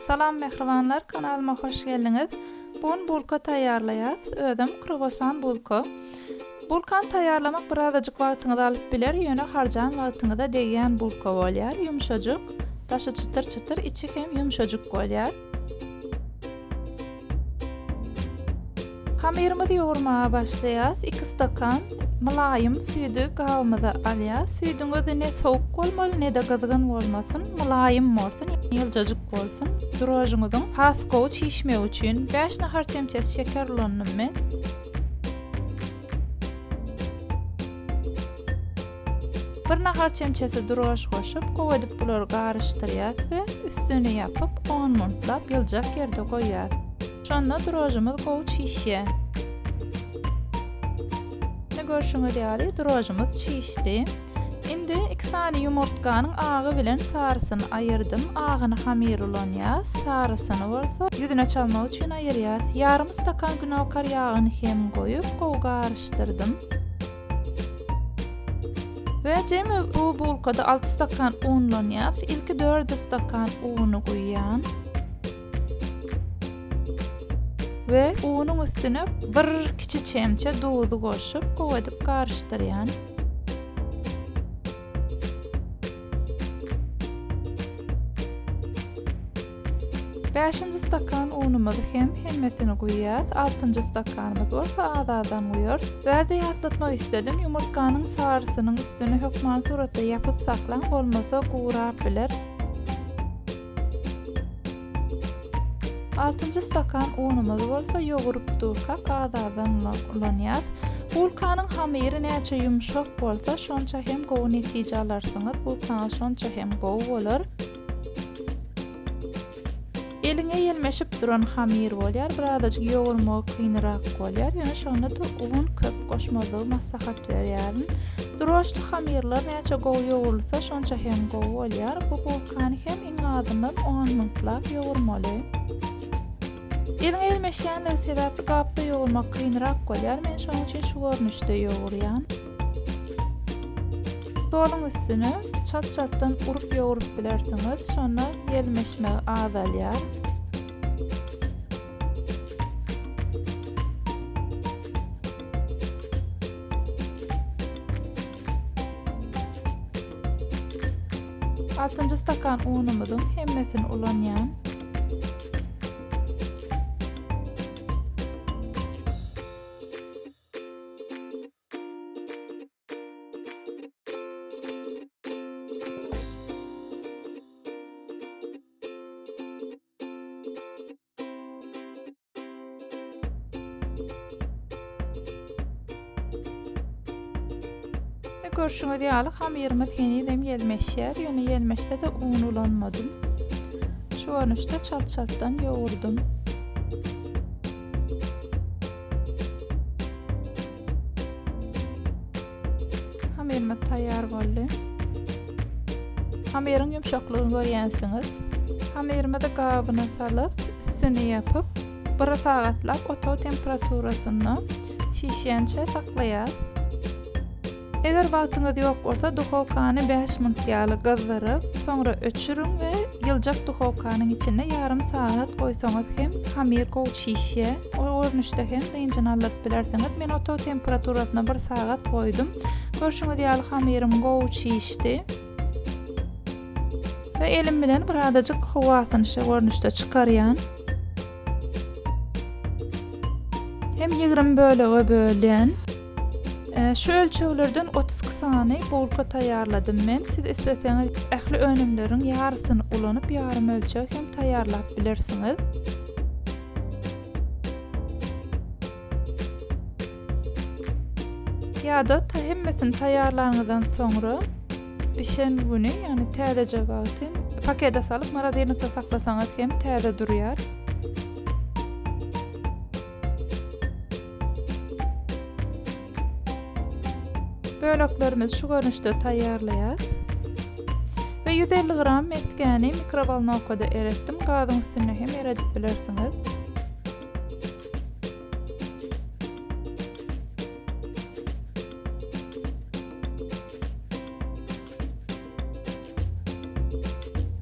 Salam mähribanlar kanalyma hoş geldiňiz. Bu gün bulka taýýarlaýas. Özem kruwasan bulka. Bulkany taýýarlamak birazajyk wagtyňyzy alyp biler, ýöne harjan wagtyňyza degýän bulka bolýar, ýumşajyk, daşy çytyr-çytyr, içi hem ýumşajyk bolýar. Hamyrymyzy ýugurmaga başlaýas, iki stakan mylaýym süýdi gabymyza alýas, süýdüň özi ne sowuk bolmaly, ne-de gyzgyn bolmasyn, mylaýym bolsun, ýyljajyk bolsun, drožňyzyň has gowy çişmegi üçin, bäş nahar çemçesi şeker ulandymy. Bir nahar çemçesi durgaş goşup, gowy edip bulary garyşdyrýas we üstüni ýapyp, on minutlap ýyljak ýerde goýýas. Şonda durgaşymyz gowy çişýä. Indi görşüňiz ýaly durgaşymyz çişdi. Indi iki sany ýumurtganyň agy bilen sarysyny aýyrdym. Agyny hamyr ulanýas, sarysyny bolsa ýüzüne çalmak üçin aýyrýas. Ýarym stakan günokar ýagyny hem goýup, gowy garyş. Ýapyşdyrdym. We jemi bu bulkada 6 stakan unlanýar. Ilki 4 stakan uny guýýan. We unyň üstüne bir kiçi çemçe duzy goşup, gowy edip garyşdyrýan. Bäşinji stakan unumyzy hem hemmesini guýýas, altynjy stakanymyz bolsa az-azdan guýarys. Bärde ýatlatmak isledim, ýumurtganyň sarysynyň üstüni hökman suratda ýapyp saklaň, bolmasa gurap biler. Altynjy stakan unumyzy bolsa ýoguryp durkak az-azdan ulanýas. Bulkanyň hamyry näçe ýumşak bolsa, şonça hem gowy netije alarsyňyz, bulkaňyz şonça hem gowy bolar. Eliňe ýelmeşip duran hamir bolýar, birazajyk ýogurmagy kynyrak bolýar, ýöne şonda-da un köp goşmazlygy maslahat berýärin. Droždli hamirler näçe gowy ýogurylsa, şonça hem gowy bolýar. Bu bulkany hem iň azyndan on minutlap ýogurmaly. Eliňe ýelmeşýändigi sebäpli gapda ýogurmak kynyrak bolýar, men şonuň üçin şu görnüşde ýogurýan. Stoluň üstüni çat-çatdan urup ýoguryp bilersiňiz, şonda ýelmeşmegi azalýar. Altynjy stakan unumyzyň hemmesini ulanýan. Görşüňiz ýaly hamyrymyz henizem ýelmeşýär, ýöne ýelmeşse-de un ulanmadym. Şu görnüşde çalt-çaltdan ýogurdym. Hamyrymyz taýýar boldy. Hamyryň ýumşaklygyny görýänsiňiz. Hamyrymyzy gabyna salyp, üstüni ýapyp, bir sagatlap otag temperaturasynda şişýänçä saklaýarys. Eger wagtyňyz ýok bolsa, duhowkany bäş minut ýaly gyzdyryp, soňra öçüriň we ýyljak duhowkanyň içinde ýarym sagat goýsaňyz hem hamir gowy çişýär. O görnüşde hem dynjyny aldyryp bilersiňiz. Men otag temperaturasyna bir sagat goýdum. Görşüňiz ýaly hamirim gowy çişdi. We elim bilen bir azajyk howasyny şu görnüşde çykarýan. Hem ýigrimi bölege bölýän. Şu ölçeglerden otuz iki sany bulka taýýarladym men. Siz isleseňiz ähli önümleriň ýarysyny ulanyp ýarym ölçeg hem taýýarlap bilersiňiz. ýa-da ta hemmesini taýýarlanyňyzdan soňra bişen güni, ýagny täzeje wagty pakete salyp morozinlikde saklasaňyz hem täze durýar. Böleklerimizi şu görnüşde taýýarlaýas. We ýüz elli gram mesgäni mikrowolnowkada eretdim, gazyň üstünde hem eredip bilersiňiz.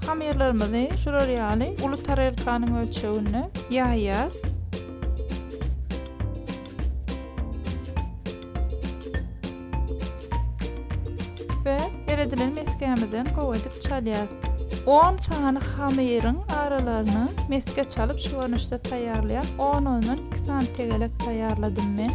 Hamyrlarymyzy şular ýaly uly tarelkanyň ölçeginde ýaýýas. We eredilen mesgämizden gowy edip çalýas. 10 sany hamyryň aralaryny mesge çalyp şu görnüşde taýýarlaýas. 10 ondan 2 sany tegelek taýýarladym men.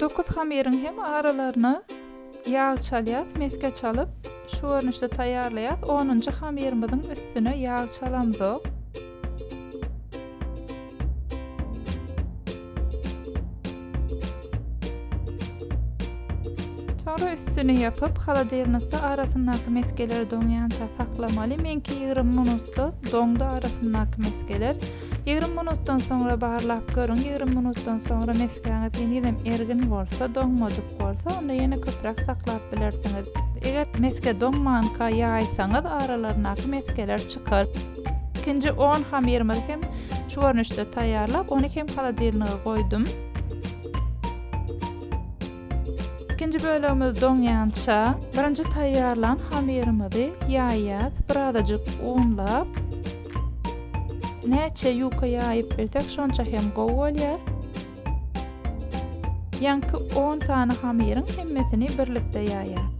Dokuz hamyryň hem aralaryna ýag çalýas, mesge çalyp, şu görnüşde taýýarlaýas, onunjy hamyrymyzyň üstüne ýag çalamzok. Soňra üstüni ýapyp, haladirnikde arasyndaky mesgeleri doňýança saklamaly, meňki ýigrimi minutda doňdy arasyndaky mesgeler. Ýigrimi minutdan soňra barlap görüň, ýigrimi minutdan soňra mesgäňiz henizem ergin bolsa, doňmadyk bolsa, onda ýene köpräk saklap bilersiňiz. Eger mesge doňmanka ýaýsaňyz, aralaryndaky mesgeler çykar. Ikinji on hamyrymyzy hem şu görnüşde taýýarlap, ony hem holodilniga goýdum. Ikinji bölegimiz doňýança, birinji taýýarlan hamyrymyzy ýaýýas, birazajyk unlap, näçe ýuka ýaýyp bilsek, şonça hem gowy bolýar. Ýaňky on sany hamyryň hemmesini birlikde ýaýýas.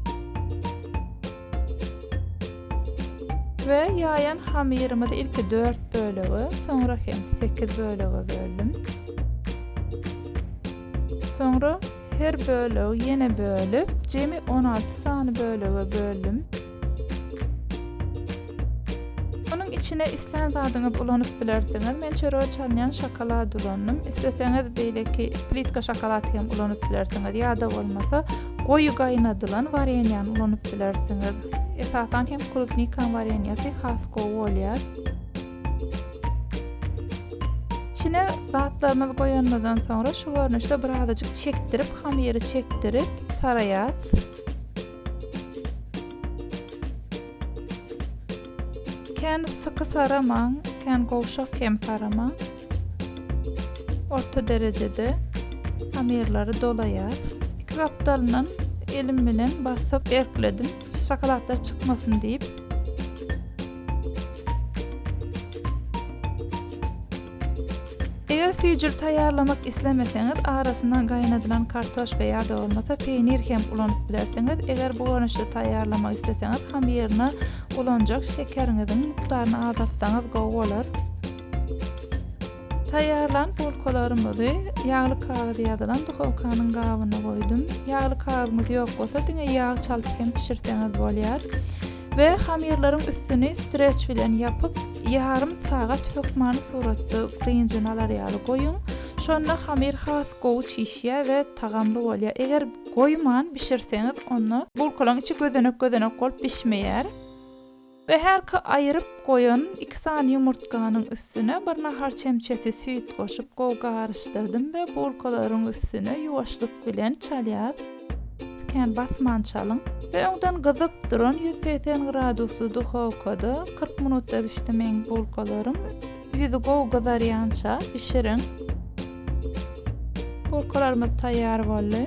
We ýaýan hamyrymyzy ilki dört bölege, soňra hem sekiz bölege böldüm. Soňra her bölegi ýene bölüp, jemi on alty sany bölege böldüm. içine islän zadyňyzy ulanyp bilersiňiz. Men çörege çalynýan şokolad ulandym. Isleseňiz beýleki plitka şokolad hem ulanyp bilersiňiz. Ýa-da bolmasa Goýy gaýnadylan wareniýany ulanyp bilersiňiz. Esasan hem klubnikaň wareniýasy has gowy bolýar. Içine zatlarymyzy goýanymyzdan soňra şu görnüşde birazajyk çekdirip, hamyry çekdirip saraýas. Kän syky saramaň, kän gowşak hem saramaň. Orta derejede hamirleri dolaýas. Iki gapdalyndan elim bilen basyp erkledim. Şokoladlar çykmasyn diýip. Eger süýjül taýýarlamak islemeseňiz, arasyna gaýnadylan kartoşka ýa-da bolmasa peýnir hem ulanyp bilersiňiz. Eger bu görnüşde taýýarlamak isleseňiz, hamiryna ulanjak şekeriňiziň mukdaryny azaltsaňyz gowy bolar. Taýýarlan bulkalarymyzy ýagly kagyz ýazylan duhowkanyň gabyna goýdum. Ýagly kagyzyňyz ýok bolsa diňe ýag çalyp hem bişirseňiz bolýar. We hamyrlaryň üstüni streç bilen ýapyp ýarym sagat hökmany suratda dynjyny alar ýaly goýuň. Şonda hamyr has gowy çişýär we tagamly bolýar. Eger goýman bişirseňiz onda bulkalaryň içi gözenek gözenek bolup bişmeýär. We herki aýyryp goýan iki sany ýumurtganyň üstüne bir nahar çemçesi süýt goşup gowy garyşdyrdym we bulkalaryň üstüne ýuwaşlyk bilen çalýas, kän basman çalyň, we öňden gyzyp duran ýüz segsen gradusly duhowkada kyrk minutda bişdimeň bulkalaryň ýüzi gowy gyzarýança bişiriň. Bulkalarymyz taýýar boldy.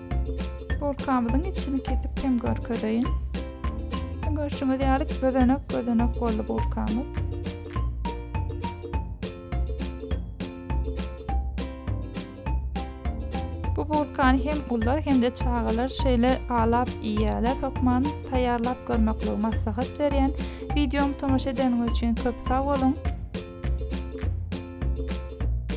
Bulkamyzyň içini kesip hem görkezeýin. Görşüňiz ýaly gözenek gözenek boldy bulkamyz. Bu bulkany hem ullar hem-de çagalar şeýle alap iýýärler. Hökman taýýarlap görmekli maslahat berýän. Wideomy tomaşa edeniňiz üçin köp sag boluň.